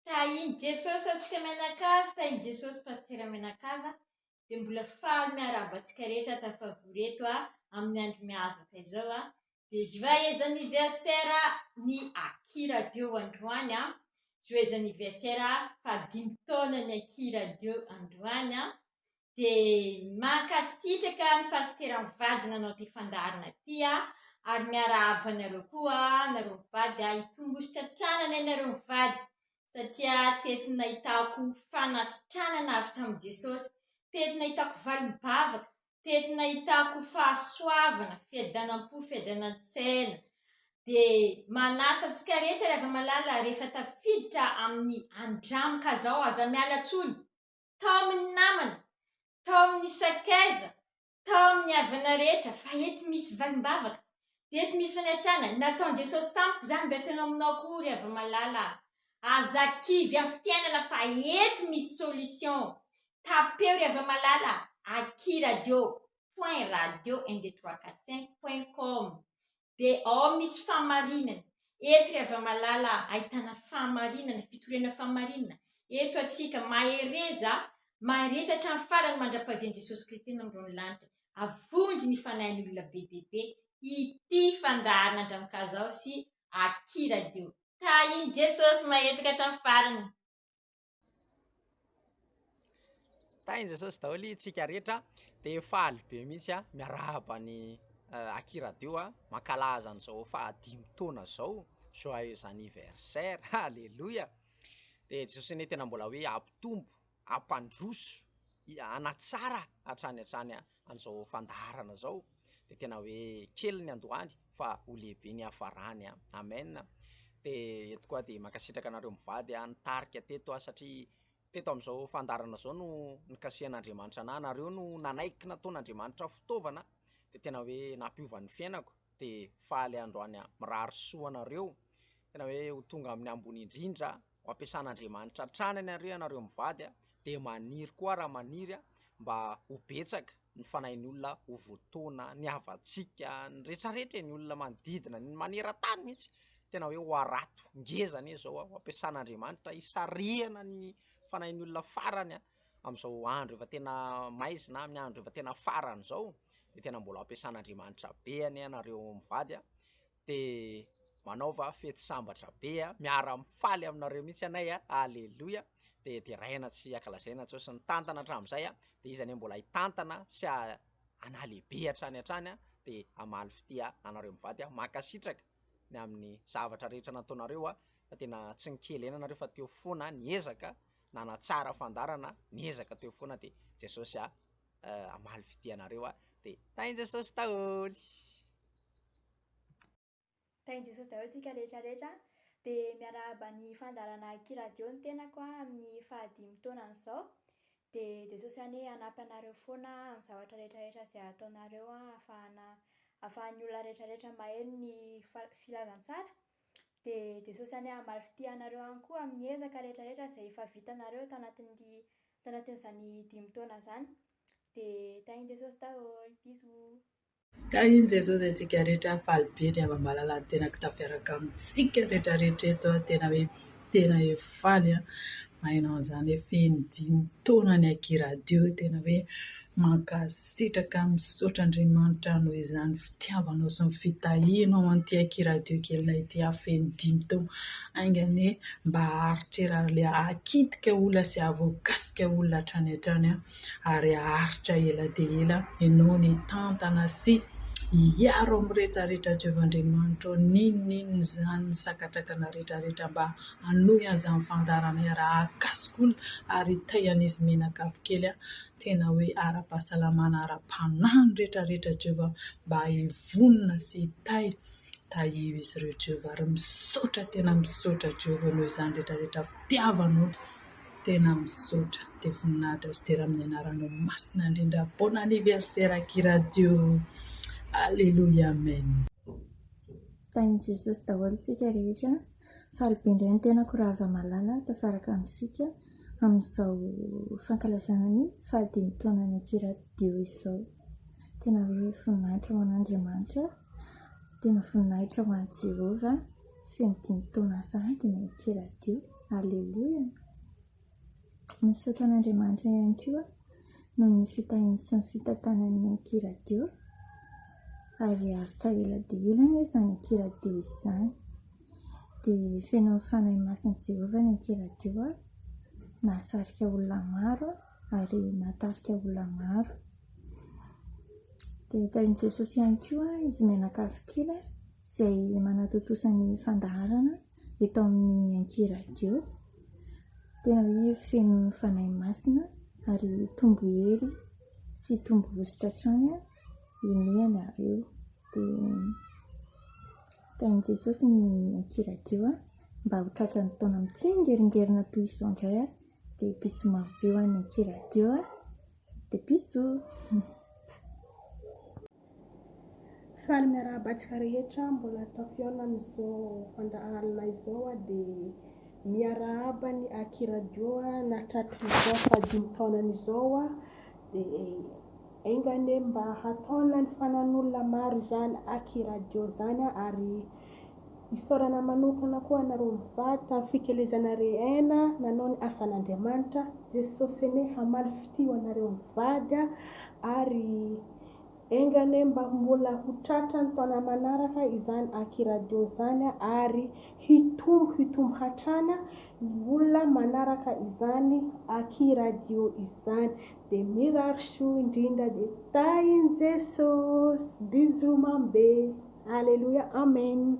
Tahin'i Jesosy antsika mianakavy, tahin'i Jesosy Pasitera mianakavy a, dia mbola faly miarahaba antsika rehetra tafavory eto amin'ny andro miavaka izao. Joyeux anniversaire ny Akia Radio androany a, joyeux anniversaire faha dimy taona ny Akia Radio androany a, dia mankasitraka ny Pasitera Mivady nanao ity fandaharana ity a, ary miarahaba anareo koa nareo mivady a, hitombo hositratranana ianareo mivady satria teto nahitako fanasitranana avy tamin'i Jesosy, teto nahitako valim-bavaka teny nahitako fahasoavana, fiadanam-po, fiadanantsaina, dia manasa antsika rehetra ry hava-malala rehefa tafiditra amin'ny andramoka izao, aza miala intsony, tao amin'ny namana, tao amin'ny sakaiza, tao amin'ny havana rehetra, fa eto misy valim-bavaka, Dia eto misy fanasana, nataon'i Jesosy tamiko izany mba ataonao aminao koa hoy ry Havamalala a! Aza kivy amin'ny fitianana fa eto misy solution! Tapeo ry Havamalala aky radio point radio un deux trois quatre cinq point com dia ao misy fahamarinana, eto ry Havamalala ahitana fahamarinana, fitoriana fahamarinana, eto antsika mahereza, mahereza hatramin'ny farany mandra-pahavian'i Jesosy Kristy any amin'irony lanitra. avonjy ny fanahin'ny olona be dia be ity fandaharana Andrankazaho sy Aki Radio. Tahin'i Jesosy mahetika hatramin'ny farany. Tahin'i Jesosy daholo itsika rehetra dia faly be mihitsy a miarahaba ny eh, Aki Radio a mankalaza an'izao fahadimy taona izao joyeux anniversaire alléluia dia Jesosy anie tena mbola hoe hampitombo hampandroso, hanatsara hatrany hatrany an'izao fandaharana izao dia tena hoe kely ny androany fa ho lehibe ny hafarany an! Amen! Dia eto koa dia mankasitraka anareo mivady nitarika teto aho satria teto amin'izao fandaharana izao no nikasihan'Andriamanitra anah, nareo no nanaiky nataon'Andriamanitra fitaovana dia tena hoe nampiova ny fiainako dia faly androany an! Mirary soa anareo tena hoe ho tonga amin'ny ambony indrindra. ho ampiasan'Andriamanitra hatrany any ary ianareo mivady dia maniry koa raha maniry mba ho betsaka ny fanahin'ny olona ho voatoana ny havantsika ny retraretra ny olona manodidina ny maneran-tany mihitsy tena hoe ho harato ngeza anie izao aho ampiasan'Andriamanitra hisarihana ny fanahin'ny olona farany aho amin'izao andro efa tena maizina amin'ny andro efa tena farany izao dia tena mbola ampiasan'Andriamanitra be anie ianareo mivady aho dia manaova fety sambatra be a, miara mifaly aminareo mihitsy anay a, aleloia, dia deraina tsy akalazaina intsony sy ny tantana hatramin'izay a, dia iza anie mbola hitantana sy hanalehibe hatrany hatrany a, dia hamaly fitia anareo mivady a, mankasitraka ny amin'ny zavatra rehetra nataonareo a, fa tena tsy nikely aina nareo fa teo foana niezaka nanatsara fandarana, niezaka teo foana dia Jesosy a hamaly fitia anareo a, dia Tain-Jesosy daholo. Tahinjeso daholo tsika rehetra rehetra a! Dia miarahaba ny fandaharana Kiradio ny tenako a amin'ny faha dimy taonany izao dia Jesosy anie hanampy anareo foana amin'ny zavatra rehetra rehetra izay ataonareo a hafahana hafahan'ny olona rehetra rehetra maheno ny fa- filazantsara dia Jesosy anie hamaly fitia anareo any koa amin'ny ezaka rehetra rehetra izay efa vitanareo tanatin'ny tanatin'izany dimy taona izany dia tahin'i Jesosy daholo bisous. Ka iny Jesosy antsika rehetra faly be dia mamalala ny tenako tafiaraka amintsika rehetra rehetra eto a, tena hoe tena hoe faly a, hainao an'izany hoe feno dimy taona ny Aki Radio, tena hoe mankasitraka misaotra Andriamanitra noho izany fitiavanao sy ny fitahianao an'ity Aki Radio kelinay ity ha feno dimy taona, hainga anie mba haharitrera ilay hakitika olona sy hahavoakasika olona hatrany hatrany a. ary haharitra ela dia ela ianao ny hitantana sy hiaro amin'ny rehetrarehetra atreovin'Andriamanitra ao, n'inon'inona izany ny sakatrakanao rehetrarehetra mba hanohy an'izany fandaharana hiara-hakasoka olona ary hitay an'izy menakavy kely an, tena hoe ara-pahasalamana ara-panahy ny rehetrarehetra Jehovah mba hivonona sy hitay, tahio izy ireo Jehovah ary misaotra tena misaotra Jehovah noho izany rehetrarehetra fitiavanao. Tena misaotra dia voninahitra sy dera amin'ny anaranao masina indrindra bon anniversaire aky radio alléluia amen Tahin'i Jesosy daholo isika rehetra. Faly be indray ny tenako Ravamalala tafaraka amintsika amin'izao fankalazana ny fahadimy taonany aky radio izao. Tena hoe voninahitra ho an'Andriamanitra, tena voninahitra ho an'i Jehovah. Feno dimy taona sahady ny ity radio. Aleloia! Misaotra an'Andriamanitra ihany koa noho ny fitahiany sy ny fitantanany ny Ampy Radio ary aritra ela dia ela anie izany Ampy Radio izany. Dia feno amin'ny Fanahy Masin'i Jehovah ny Ampy Radio, nahasarika olona maro. ary nahatarika olona maro. Dia tahin'i Jesosy ihany koa izy mianakavy kely izay manatontosa ny fandaharana eto amin'ny ankiradiô. Tena hoe feno fanahy masina ary tombo hery sy tombo hositra hatrany inianareo. Dia tahin'i Jesosy ny ankiradiô mba ho tratran'ny taona mitsengerengerana toy izao indray. Dia bisous maro be ho an'ny Akia Radio a! Dia bisous! Faly miarahaba antsika rehetra mbola tafihaona amin'izao fandà alina izao a! Dia miarahaba ny Akia Radio a! Na tratr'izao fahadimy taonany izao a! Dia enga anie mba hataonan'ny fanan'olona maro izany Akia Radio izany a! Ary Isaorana manokana koa anareo mivady tamin'ny fikelezana re Aina nanao ny asan'Andriamanitra, Jesosy anie hamaly fitia ho anareo mivady ary enga anie mba mbola ho tratran'ny taona manaraka izany Aki Radio izany ary hitombo hitombo hatrany ny olona manaraka izany Aki Radio izany dia mirary soa indrindra dia tahin'i Jesosy, bisous mamy be. Aleloia Amen.